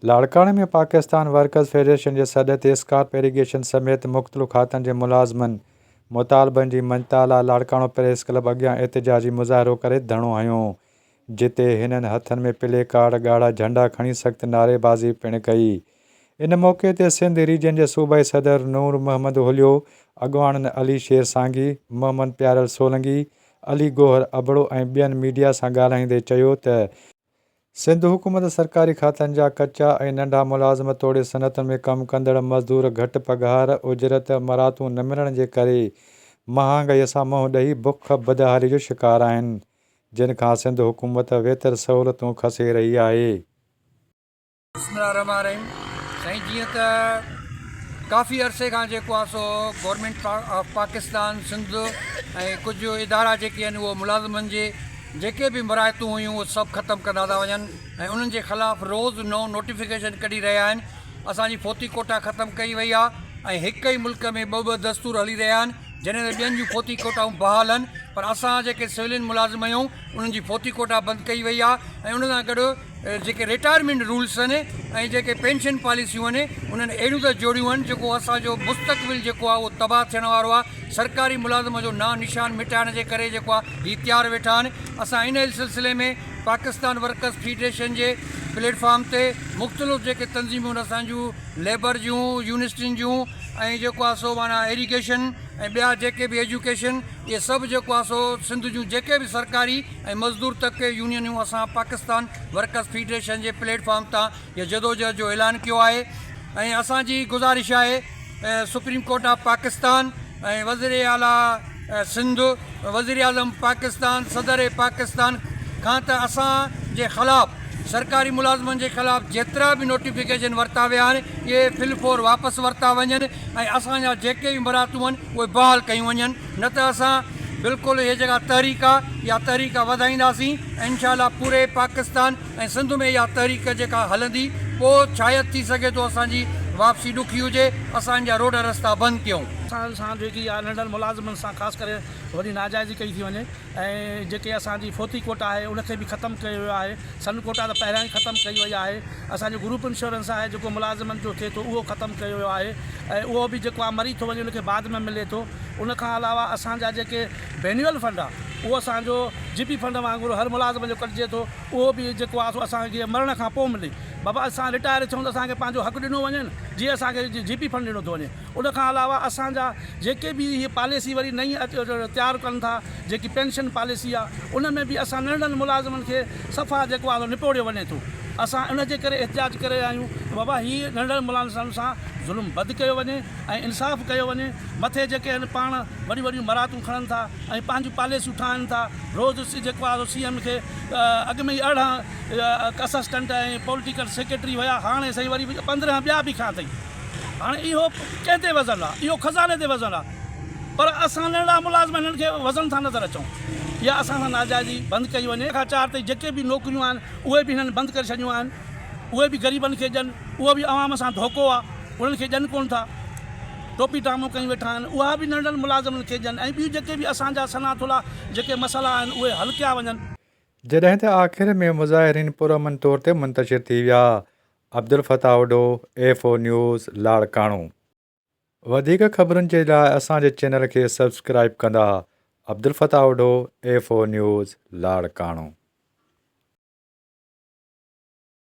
لاڙڪاڻي ۾ Pakistan workers federation جي سڏ تي اسڪارپ ايريگيشن سميت مختلف کاتن جي ملازمن مطالبن جي مڃتا لاء لاڙڪاڻو پريس ڪلب اڳيان احتجاجي مظاهرو ڪري ڌرڻو هنيو، جتي هنن هٿن ۾ پلي ڪارڊ، ڳاڙها جهنڊا کڻي سخت نعريبازي پڻ ڪئي. ان موقعي تي سنڌ ريجن جي صوبائي صدر نور محمد هوليو، اڳواڻن علي شير سانگي، محمد پيارل سولنگي، علي گوهر ابڙو ۽ ٻين ميڊيا سان ڳالهائيندي چيو ته، سنڌ حڪومت سرڪاري کاتن جا ڪچا ۽ ننڍا ملازم توڙي صنعتن ۾ ڪم ڪندڙ مزدور گهٽ پگهار، اجرت، مراتون نه ملڻ جي ڪري مهانگائي سان منهن ڏئي بک بدحالي جو شڪار آهن، جن کان سنڌ حڪومت ويتر سهولتون کسي رهي آهي. بسم الله الرحمٰن الرحيم سائين جيئن ته ڪافي عرصي کان جيڪو آهي سو گورنمينٽ آف پاڪستان سنڌ ۽ ڪجهه ادارا جيڪي آهن اهو ملازمن جي جيڪي به مراعتون هيون اهي سڀ ختم ڪندا ٿا وڃن ۽ انهن جي خلاف روز نئون نوٽيفڪيشن ڪڍي رهيا آهن اسان جي فوتي ڪوٽا ختم ڪئي وئي آهي ۽ هڪ ئي ملڪ ۾ ٻه ٻه دستور هلي رهيا آهن جڏهن ته ٻين جون فوتي ڪوٽائون بحال آهن پر اسان جيڪي سولين ملازم آهيون انهن جي فوتي ڪوٽا بند ڪئي وئي آهي ۽ ان سان گڏ جيڪي رٽائرمينٽ رولس آهن ۽ جيڪي پينشن پاليسيون آهن انهن اهڙيون ته جوڙيون آهن جيڪو اسان جو مستقبل جيڪو آهي اهو تباهه ٿيڻ وارو آهي سرڪاري ملازم جو نانء نشان مٽائڻ جي ڪري جيڪو آهي هي تيار ويٺا آهن اسان ان سلسلي ۾ پاڪستان ورڪرس فيڊريشن جي پليٽ فارم تي مختلف جيڪي تنظيمون آهن اسان جون ليبر جون يونسٽين جون ۽ جيڪو آهي سو معنيٰ ايريگيشن ۽ ٻيا جيڪي به ايجوڪيشن اهي سڀ جيڪو آهي سو سنڌ جون جيڪي به سرڪاري ۽ مزدور طبقي يونينون اسان پاڪستان ورڪرز فيڊريشن جي پليٽ فارم تان هيء جدوجهد جو اعلان ڪيو آهي ۽ اسان جي گذارش آهي سپريم ڪورٽ آف پاڪستان ۽ وزير اعليٰ سنڌ وزيراعظم پاڪستان صدر پاڪستان کان ته اسان جي خلاف سرڪاري ملازمن جي خلاف جيترا به نوٽيفڪيشن ورتا ويا آهن اهي فل فور واپس ورتا وڃن ۽ اسان جا جيڪي به برائتون آهن اهي بحال ڪيون وڃن. نه ته اسان بلڪل اهي جيڪا تحريڪ آ اها تحريڪ وڌائينداسين ۽ انشاء الله پوري پاڪستان ۽ سنڌ ۾ اها تحريڪ جيڪا هلندي پوء شايد ٿي سگهي ٿو اسان جي واپسي ڏکي هجي اسان ان جا روڊ رستا بند ڪيون. اسان سان جيڪي آ ننڍن ملازمن سان خاص ڪري وڏي ناجائزي ڪئي ٿي وڃي. ۽ جيڪي اسان جي فوتي ڪوٽا آهي ان کي به ختم ڪيو ويو آهي سن ڪوٽا ته پهريان ئي ختم ڪئي وئي آهي اسان جو گروپ انشورنس آهي جيڪو ملازمن جو ٿئي ٿو اهو ختم ڪيو ويو آهي ۽ اهو به جيڪو آهي مري ٿو وڃي ان کي بعد ۾ ملي ٿو ان کان علاوه اسان جا جيڪي بينيول فنڊ آهي اهو اسان جو جي پي فنڊ وانگر هر ملازم جو ڪٽجي ٿو اهو به جيڪو آهي سو اسان کي مرڻ کان پوء ملي بابا اسان رٽائر ٿيون ته اسان کي پنهنجو حق ڏنو وڃي جي اسان کي جي پي فنڊ ڏنو ٿو وڃي ان کان علاوه اسان جا جيڪي به هي پاليسي وري نئين تيار ڪن ٿا جيڪي پينشن پاليسي آ ان ۾ به اسان ننڍڙن ملازمن کي صفا جيڪو آ سو نپوڙيو وڃي ٿو اسان ان جي ڪري احتجاج ڪري رهيا آهيون ته بابا هي ننڍڙن ملازمن سان ظلم بد ڪيو وڃي ۽ انصاف ڪيو وڃي مٿي جيڪي آهن پاڻ وڏيون وڏيون مراتون کڻن ٿا ۽ پنهنجون پاليسيون ٺاهن ٿا روز جيڪو آ سو سي ايم کي اڳ ۾ ئي ارڙهن اسسٽنٽ ۽ پوليٽيڪل سيڪريٽري هيا هاڻي سائين وري پندرهن ٻيا به کيا اٿئي. هاڻي اهو ڪنهن تي وزن آ؟ اهو خزاني تي وزن آ پر اسان ننڍڙا ملازم هنن کي وزن ٿا نظر اچون يا اسان سان ناجائزي بند ڪئي وڃي. هڪ کان چار تائين جيڪي به نوڪريون آهن اهي به هنن بند ڪري ڇڏيون آهن اهي به غريبن کي ڏين اهو به عوام سان ڌوڪو آ انهن کي ڏين ڪونه ٿا ٽوپي ٽامون ڪيون ويٺا آهن اها به ننڍڙن ملازمن کي ڏين ۽ ٻيون جيڪي به اسان جا سنا ٿلها جيڪي مسئلا آهن اهي حل ڪيا وڃن. جڏهن ته آخر ۾ مظاهرين پرامن طور تي منتشر ٿي ويا Abdul Fattah Odho, F O news, Larkana. وڌيڪ خبرن جي لاء اسان جي چينل کي سبسڪرائيب ڪندا Abdul Fattah Odho, F O news, Larkana.